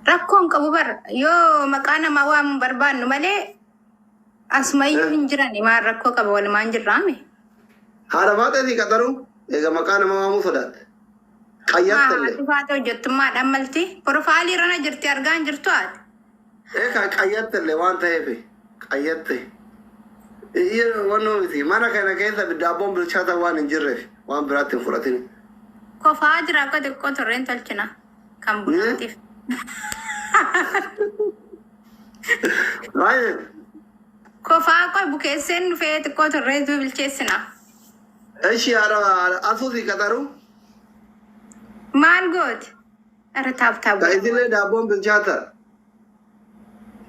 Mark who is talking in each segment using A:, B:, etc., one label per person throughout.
A: Rakkoon qabu bar yoo maqaa namaa waamuun barbaannu malee asumayyuu hin jiran maal rakkoo qaba walumaan jirraame. Haadha
B: faatee si qaxaruu eega maqaa nama waamuu sodaatte. Maa Qayyattelle. haati faata hojjettummaadhaan
A: malti? Pirofaalii irrana jirti argaan jirtu haati. Ee kan
B: qayyattelle waan ta'eef qayyatte wannoo miti mana kana keessa daabboon bilchaata waan hin jirreef waan biraatti hin fudhatin. Kofaa
A: jira akka xiqqoo turreen tolchina. Kan bunaatiif. Baay'ee Kofaa qoy bukeesseen dhufee xiqqoo turree duu bilcheessina.
B: eshi asuusi qaxaru Maal
A: gooti? Irra taap taap. Ta isillee daabboon
B: bilchaata.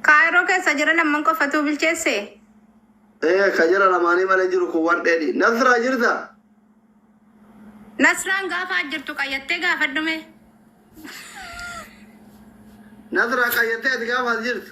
B: Kaayiroo
A: keessa jira lamman qofatuu bilcheesse. Ee
B: ka jara lamaanii malee jiru kun waan dheedhi. Nasraa jirta?
A: Nasraan gaafa jirtu qayyattee gaafadhume.
B: Nasraa qayyattee ati gaafa as jirtu.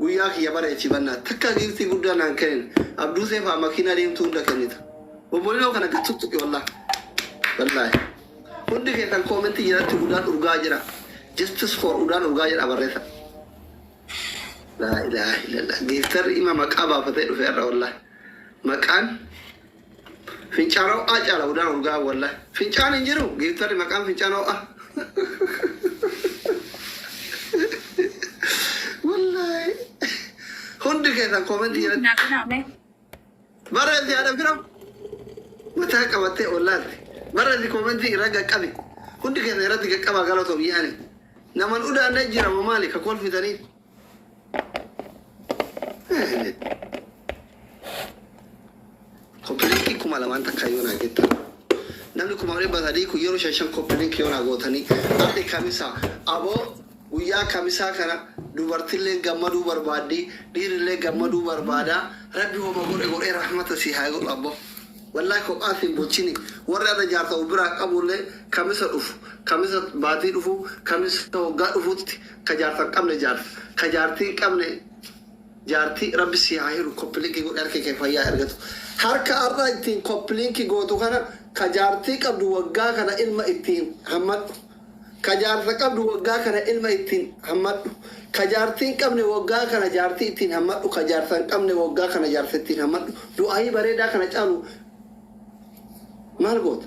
B: Guyyaa kiyya bara echibanna takka giiftii guddaa naan kenine abduusee faa makiinaa diimtuu hunda kennita bobolinoo kana gad tuttuqi wallahi wallahi hundi keessan koomentii jalatti udaan urgaa jira justice for udaan urgaa jedha barresa laa ilaaha illallah giiftarri ima maqaa baafatee dhufe har'a wallahi maqaan Fincaan ho'aa caala udaan urgaa'aa wallah fincaan hin jiru giiftarri maqaan fincaan ho'aa wallahi hundi keessan koomentii Nuuf jalatti naqinaa mee. barreessi haadha fira mataa qabattee ollaatti barreessi koomentii irra gaqqabi hundi keessan irratti gaqqabaa galatoom yaani naman udaanne jirama maali ka kolfitanii Koppilinki kuma lamaan takka yoo naa jettan namni kuma dhibba sadii kun yeroo shan shan koppilinki yoo naa gootanii arri kamisa aboo guyyaa kamisaa kana dubartillee gammaduu barbaaddi dhiirillee gammaduu barbaada rabbi homa godhe godhee rahmata si haa godhu abbo wallaahi kophaa siin bulchini warri adda jaarsa of biraa qabuullee kamisa dhufu kamisa baatii dhufu kamisa waggaa dhufutti Ka jaarsa hin qabne jaarsa ka jaartii hin qabne jaartii rabbi sii haa hiru koppilinki godhi harki kee fayyaa haa ergatu harka har'a ittiin koppilinki gootu kana ka jaartii qabdu waggaa kana ilma ittiin hammadhu ka jaarsa qabdu waggaa kana ilma ittiin hammadhu ka jaartii hin qabne waggaa kana jaartii ittiin hammadhu ka jaarsa hin qabne waggaa kana jaarsa ittiin hammadhu du'aayii bareedaa kana caalu maal goota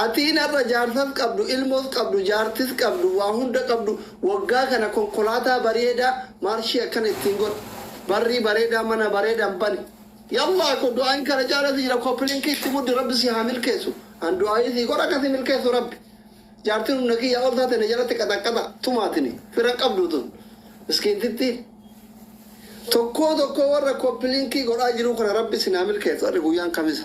B: Atiin ar'a jaarsas qabdu ilmos qabdu jaartis qabdu waa hunda qabdu waggaa kana konkolaataa bareedaa marshii akkana ittiin godha barrii bareedaa mana bareedaan bani yallaa ko du'aayin kana caala si jira kopilink itti muddi rabbi si haa milkeessu an du'aayii sii godha akka si milkeessu rabbi jaartin humna kiyyaa ol taate na jalatti qaxaqqaxa tumaatini fira qabdu tun miskiintittii tokkoo tokkoo warra kopilinkii godhaa jiruu kana rabbi isin haa milkeessu ar'i guyyaan kamisa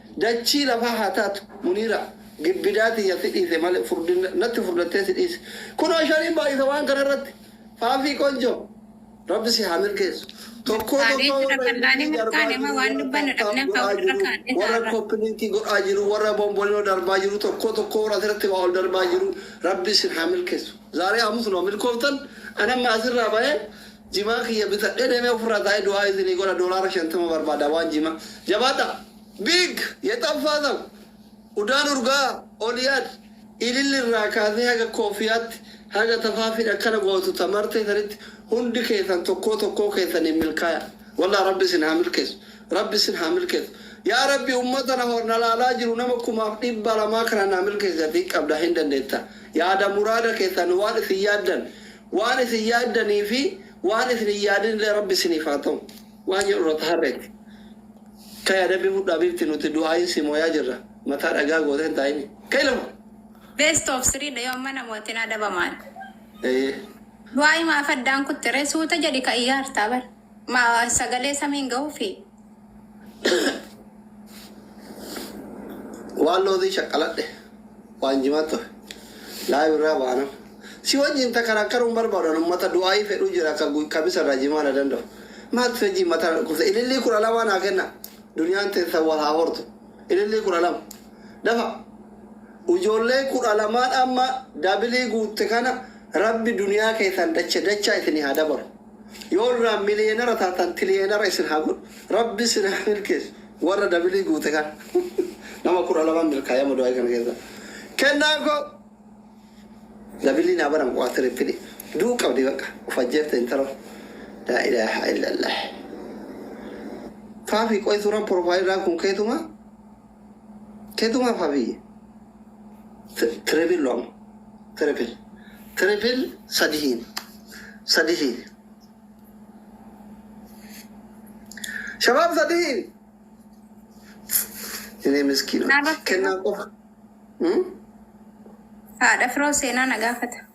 B: Dachii lafaa haa taatu muniira gibbidaa tiyya si dhiise male furdinna natti furdattee si dhiise kunoo shariin baayisa waan kana irratti faafii qonjo rabbi si haa milkeessu tokkoo tokkoo warra invitii darbaa jiru warra tap tap godhaa jiru warra koppilinki godhaa jiru warra bombolino darbaa jiru tokkoo tokkoo warra asirratti waa ol darbaa jiru rabbi isin haa milkeessu zaaree hamus noo milkooftan ani amma asirraa bahee Jimaa kiyya bitadhe deme ofirraa taa'e du'aa isinii godha doolaara shantama barbaada waan jima jabaadha big yexam faazam udaan urgaa oliyaad ililli irraa kaasee haga koofiyaatti haga tafaafiin akkana gootu ta martee sanitti hundi keessan tokkoo tokkoo keessaniin milkaaya wallah rabbi isin haa milkeessu rabbi isin haa milkeessu yaa rabbi ummata na ho- na laalaa jiru nama kumaaf dhibba lamaa kana naa milkeessi atii qabda hin dandeetta yaada muraada keessan waan isin yaaddan Waan isin yaaddanii fi waan isin hin yaadin illee Rabbi isiniif haa ta'u. Waan jedhu irra taharreetti. Ka'i adabbii fudhu habiibti nuti du'aa'iin si mooyaa jirra. Mataa dhagaa gootee hin taa'ini. Ka'i lafa! Best of
A: three dha yoo amma namootin adabamaan. Eeyyee.
B: Du'aa'ii
A: maaf addaan kutte ree? Suuta jedhi ka iyyaartaa bar. Maa sagalee samiin gahuufii?
B: waan loozii shaqqaladhe waan jimaa ture laayif irraa baana si wajjin takaraakkaruun barbaadan ummata du'aayii fedhuu jira akka gu- kamisa irraa jimaa na danda'u maal fedhii mataa na dhukkubsa ilillii kudha lamaa naa kenna duniyaan teessa wal haa hortu ilillii kudha lama dafa ijoollee kudha lamaan amma dabilii guutte kana rabbi duniyaa keessan dacha dachaa isinii haa dabalu Yoo irraa miliyeenara taatan tiliyeenara isin haa godhu. Rabbi isin haa milkeessu. Warra dabilii guute kana. Nama 12 milkaa'e amma du'aayi kana keessa. Kennaa koo! Dabilii naa baran waa tirippilii. Du'u qabdi baqa. Of ajjeefte intaloo. Laa ilaaha illallah. Faafi qoy suuraan profile irraa kun keetumaa? Ketu maf hafiye. Triple lo amma. Triple. Triple sadi hiin. Sadi hiin. Shabaab sadi hiin. Inni miskiin. Kennaa qofa.
A: Haadha firoo seenaa na gaafata.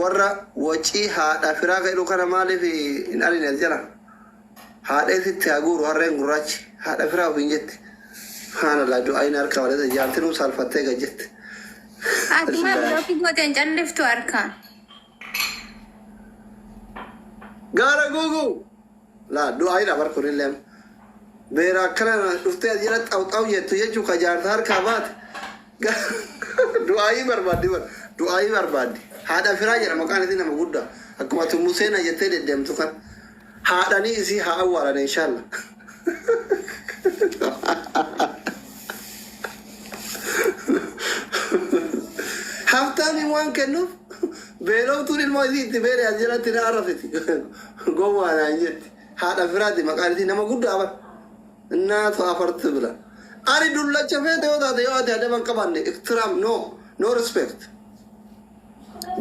B: Warra wacii haadha firaa ka jedhu kana maaliif hin arine as jala? Haadha isitti haa guuru harreen gurraachi haadha firaa ofiin jetti. Subhaanallah du'aayin harka malee jaartinuu saalfattee gad jette. Ati
A: maaf Laa. lookii gooteen calliftu harkaa?
B: Gaara guuguu! Laa du'aayidha bar kunillee amma. Beera akkana dhuftee as jala xaw xaw jettu jechuu ka jaarsa harkaa baate Ga- du'aayii barbaaddi bar du'aayii barbaaddi haadha firaa jedha maqaan isii nama guddaa akkuma ati museena jettee deddeemtu kan haadhanii isii haa awwaalan inshaalla haftaamiin waan kennuuf beeloftuun ilmoo isii itti beere as jalatti na arrafiti Gowwaa naan jetti. Haadha firaati maqaan isii nama guddaa bar. Innaa to afartu bila. Ani dullacha feete yoo taate yoo ati adaba hin qabaanne iktiraam no no respect.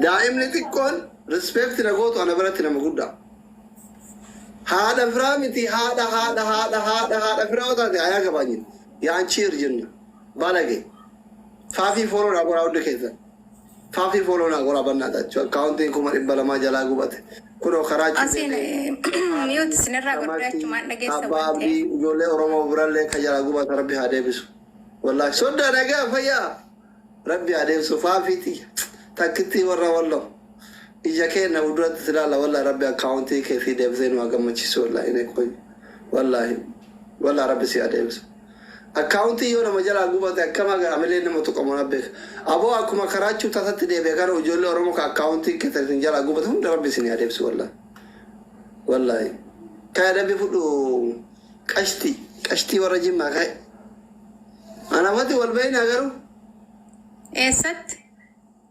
B: Daa'imni xiqqoon respect na gootu ana biratti nama guddaa. Haadha firaa miti haadha haadha haadha haadha haadha firaa yoo taate ayaa gabaanyin. Yaan cheer jenna. Balage. Faafii fooloo naa godhaa hunda keessan. Faafii follow naa goraa bannaatachu akkaawuntiin kuma dhibba lamaa jalaa gubate kunoo karaa Asiin
A: miyuut isinirraa godhee achumaan dhageessa Abbaa waan ta'eef. Abdii ijoollee
B: Oromoo birallee ka jalaa gubate rabbi haa deebisu. Wallaahi sodda nagaa fayyaa rabbi haa deebisu faafiiti takkittii warra walloo ija keenna fuulduratti si ilaalla wallaahi rabbi akkaawuntii kee sii deebisee nu haa gammachiisu wallaahi inee qoy wallaahi wallaahi rabbi si haa deebisu. Account yoo nama jalaa gubate akkam haga hamileen nama tuqamu ana beeka aboo akkuma karaachuu tasatti deebi'a garuu ijoollee oromoo ka account keessan isin jalaa gubate hunda rabbi isin haa deebisu wallahi wallahi kaya dabbi fudhu qashti qashtii warra jimmaa kaya anafati wal beeyna garuu
A: Eessatti?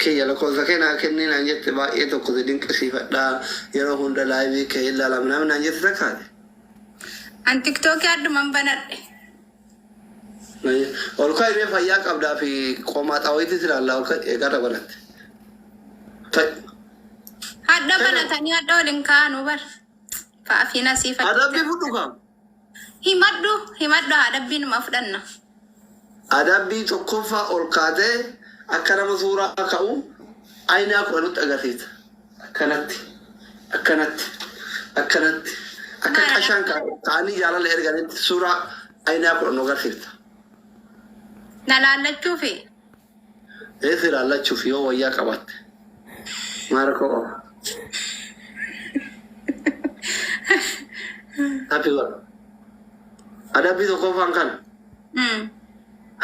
B: Kiyya lakoofsa kee naa kennii naan jette baay'ee tokko si dinqisiifadha yeroo hunda live kee hin laala minaamin naan jette takka ati.
A: An tiktoki adduman banadhe.
B: Ol ka'i mee fayyaa qabdaa fi qomaaxaa wayiitis ilaallaa ol ka'i eegarra banatte. Ka'i.
A: Hadha Hello. banatanii hadha waliin kaa'anuu bar. Fa'afiina siifadha. Adabbii fudhu kaa.
B: Himadhu
A: himadhu adabbii numa fudhanna. Adabbii
B: tokkoffaa ol kaatee akka nama suuraa ka'u aynaa kudha nutti agarsiista. Akkanatti akkanatti akkanatti akka Maara qashaan ka- ka'anii jaalala erganitti suuraa aynaa kudha nu agarsiifta.
A: na laallachuufi.
B: Reef ilaallachuuf yoo wayyaa qabaatte maa rakkoo qaba? Happy godha. Adabbii tokkoffaan kan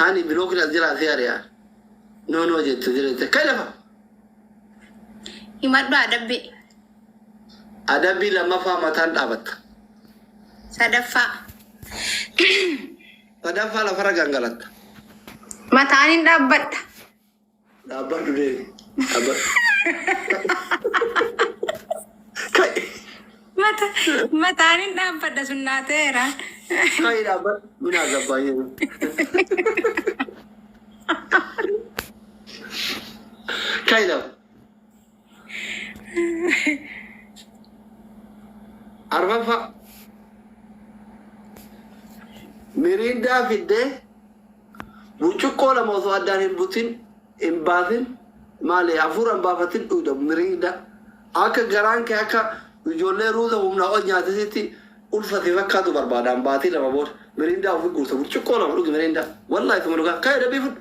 B: ani bilookin as jira asii ari'a. Noo noo jette jirette kan lafa.
A: Himadhu adabbii.
B: Adabbii lammaffaa mataan dhaabatta.
A: Sadaffaa.
B: Sadaffaa lafarra gangalatta. Mataan
A: hin dhaabbadha.
B: Dhaabbadhu deemi. Dhaabbadhu. Ka'i. Mata,
A: mataan hin dhaabbadha sun naa ta'eera. Ka'i
B: dhaabbadhu. Minaa gabbaa jedhu. Ka'i lafa. Arfaffaa. Miriindaa fiddee burcuqqoo lama osoo addaan hin butin hin baasin maali hafuura hin baafatin dhuuda miriindaa. Akka garaan kee akka ijoollee ruuza humnaa ol nyaatisitti ulfate fakkaatu barbaadaan baatii lama booda miriindaa ofi guuta burcuqqoo lama dhugi miriindaa. Wallaahi suma dhugaa ka'e dabii fudhu.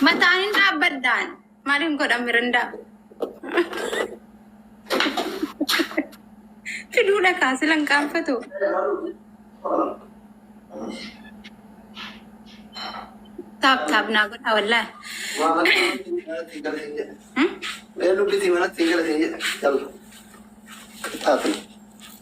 A: Mataan hin dhaabbadhaan. Maaliin godhan mirindaa? Fiduudha kaa sila hin qaanfatu. Taap taap naa godhaa wallaahi.
B: Hmm? Beeluu bitii manatti hin galatiin jedhe. Yalla. Taatu.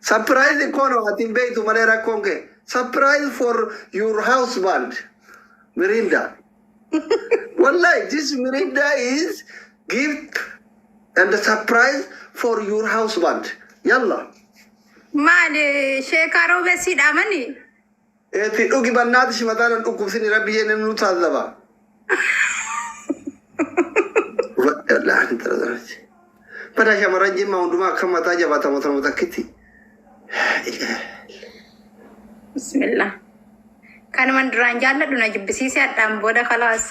B: Surprise kono ati hin beektu malee rakkoon kee. Surprise for your husband. Mirinda. Wallahi this Mirinda is gift and surprise for your husband. Yalla.
A: Maali sheekaa roobessiidha mani? Eti
B: dhugi banati si mata nan dhukubsini rabbi jene nu tazaba. Wallahi ani tara darati. Bada shamaran jimma hunduma akka mata jabata mata mata kiti.
A: Bismillah. Kanuman duraan jaalladhu na jibbisiise hadhaan booda kalaas.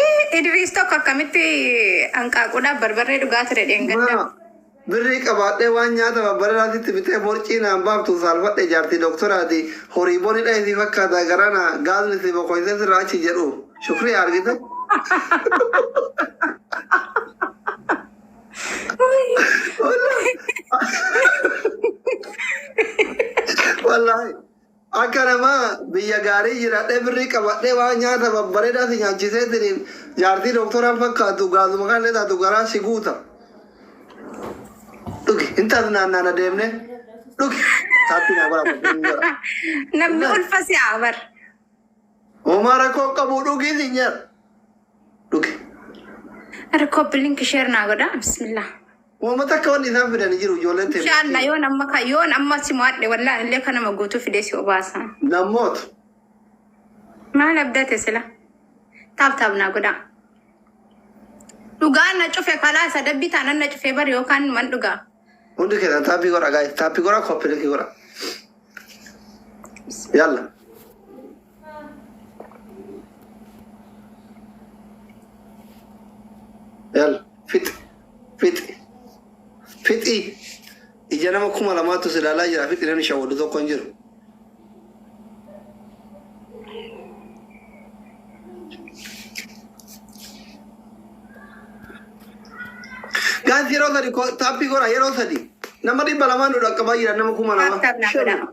A: Ii, Idriis tokko akkamitti hanqaaquudhaaf barbarree dhugaa ture dheengadda. Mara birrii
B: qabaadhee waan nyaata babbareraatti itti bitee borcii naan baaftu saalfadhe jaartii dooktoraati horii bonidha isii fakkaata garana gaazli si bokoysee sirraa achi jedhu shukrii argite wallaahi Akka nama biyya gaarii jiradhee birrii qabadhee waan nyaata babbareedaa si nyaachiseetiniin jaartii doktoraa fakkaattu gaazuma kanallee taatu garaa si guuta. Dhugi hin tasnaannaana deemnee dhugi taatti naa godha bakka hin jira. Namni
A: Wallahi. ulfa si'aa bar.
B: Homaa rakkoo qabu dhugii si nyaata. Dhugi.
A: Harkoo bilink sheer naa godha. Bismillah. Woma takka
B: wanni isaan fidan hin jiru ijoolleen tee Inshallah miskiina. yoon amma ka yoon
A: amma si mo'adhe wallahi illee ka nama guutuu fidee si obaasa. Nan mootu. Maal abdate sila? Taap taap naa godhaa. Dhugaan na cufe kalaa sadabbii taanan na cufee bari yookaan numan dhugaa. Hundi keessan
B: taappii godha gaa'e. Taappii godha koppilikii godha. Yalla. Yal fixi fixi fixi ija nama kuma lamaatu si ilaalaa jira fixi namni shawwaddu tokko hin jiru. Gaansi yeroo sadi taappii godha yeroo sadi nama dhibba lamaan nu dhaqqabaa jira nama kuma lama. Taappi taappi naa godhaa.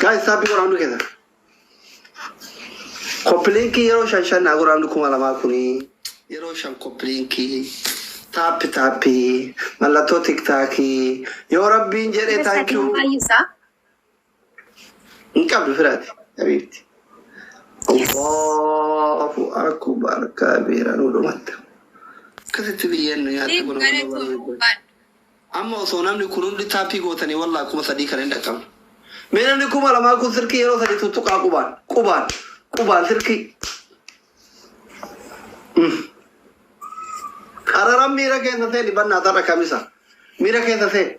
B: Guys, stop it, Quran together. Kopiliinkii yeroo shan shan naa godhaa hundi kuma lamaa kuni yeroo shan kopiliinkii taappi taappi mallattoo tiktaakii yoo rabbiin jedhe Yes, I can taankiyuu buy you, sir. Hin qabdu firaati habiibti. Allahu akbar kabeera nu dhumatta. Akkasitti biyyeen nu nyaatte kun amma barbaadde. Amma osoo namni kun hundi taappii gootanii wallaa kuma sadii kan hin dhaqqabne. Mee namni kuma lamaa kun sirkii yeroo sadii tuttuqaa qubaan qubaan qubaan sirkii. Mm. Qararan miira keessa seeni bannaa tarra kamisa. Miira keessa seeni.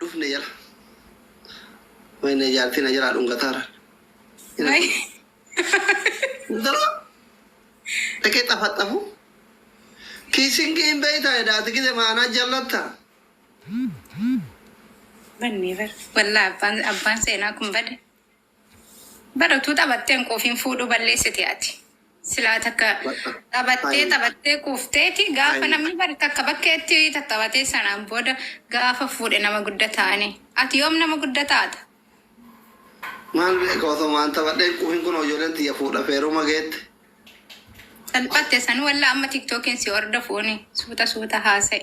B: dhufne jala wayne jaartii na jalaa dhungataara Wayii. dura dhaqee xafaxafu kiisingii hin beeytaa edaati gide maanaa jallatta Bannee
A: bara. Wallaa abbaan, abbaan seenaa kun bade. Bar utuu taphatteen quufiin fuudhuu balleessite ati. Silaa takka taphattee taphattee quufteeti gaafa namni bar takka bakkeetti tattaphatee sanaan booda gaafa fuudhe nama gudda taane. Ati yoom nama gudda taata?
B: Maal beeka osoma an taphadhee hin quufin kunoo ijoolleen tiyya fuudhaf heeruma geette.
A: Salphatte sanuu wallah amma tiktokiin si hordofuuni suuta suuta haasa'i.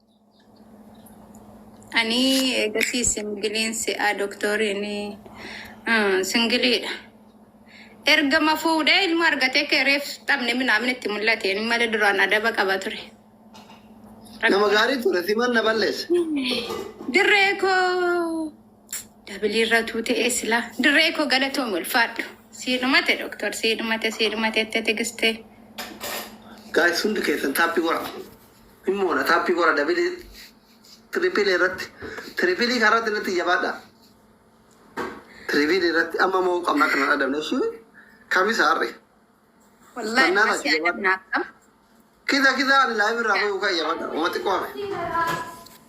A: Ani eegasii singiliin si'aa doktoriin singiliidha. Ergama fuudhee ilma argatee kee reef taphni minaamin itti mul'ate inni malee duraan adaba qaba ture. Nama
B: gaarii ture siman na balleesse. Dirree
A: koo dabiliirra tuute eesila. Dirree koo galatoomi ulfaadhu. Sii dhumate doktor sii dhumate sii dhumate itti tigistee.
B: Gaayis hundi keessan taappii godha. Immoodha taappii gora dabilii tiripilee irratti tiripiilii kan irratti irratti jabaadha tiripiilii irratti amma moo qabna akka nan adabne ishii kamisa harre Wallahi
A: Kennaa masii taate adabna akkam. kisa kisa
B: ani laayif irraa bayuu kan jabaadha uma xiqqoo hafe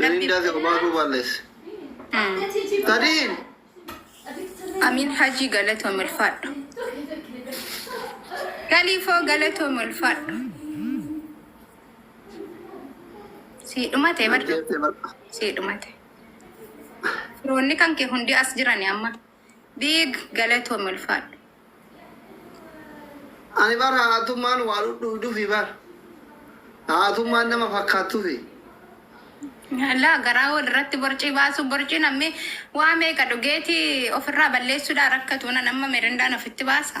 A: Mirindaa
B: fi obaakuu baalleesse. Tadiin!
A: Amin Hajii galatoom ulfaadhu. Galiifoo galatoom ulfaadhu. Sii dhumate bar Ajjeeftee bar. sii dhumate. Firoonni kan kee hundi as jirani amma. Big galatoomi ulfaadhu.
B: Ani bar haatummaan waa dhudhuudufi bar haatummaan nama fakkaattufi.
A: Laa garaa wal irratti borcii baasuu borcii namni waa meeqa dhugeeti ofirraa balleessuudhaa rakkatu nan amma mirindaan ofitti baasa.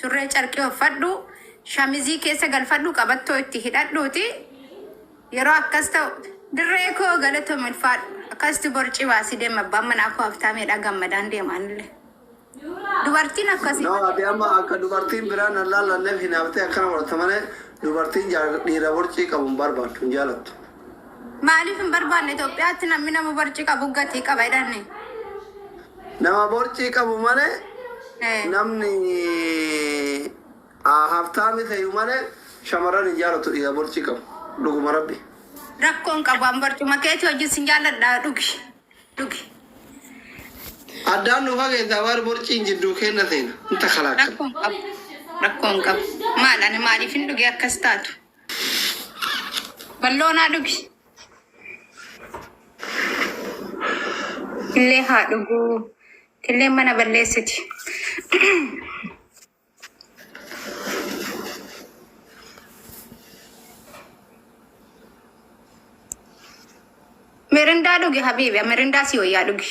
A: Surree carqii offadhu, shamizii keessa galfadhu qabattoo itti hidhadhuuti yeroo akkas ta'u dirree koo galatoom ulfaadhu akkasitti borcii baasii deema abbaan manaa koo habtaameedha gammadaan deema anillee dubartiin akkasii No, malee ati amma akka
B: dubartiin biraa nan laallanneef hinaaftee akkana godhatta malee dubartiin jaal- dhiira borcii qabu hin barbaaddu, hin jaalattu. Maaliif
A: hin barbaanne Itoophiyaatti namni nama borcii qabu gatii qaba jedhanne.
B: Nama borcii qabu malee Eh, namni ah, haftaami ta'u malee shamarran hin jaalatu dhiira borcii qabu. Dhuguma rabbi. Rakkoon qabu
A: an barcuma keetii wajjin sin jaalladha dhugi. Dhugi.
B: Addaan nu fageessaa waan borciin jidduu keenna seena. Inta kalaakan. Rakkoon qabu.
A: Rakkoon qabu. Maal ani maaliif
B: hin
A: dhuge akkas taatu? Balloo naa dhugi. Killee haa dhuguu. Killeen mana balleessiti. Mirindaa dhugi habiibi. Mirindaa si wayyaa dhugi.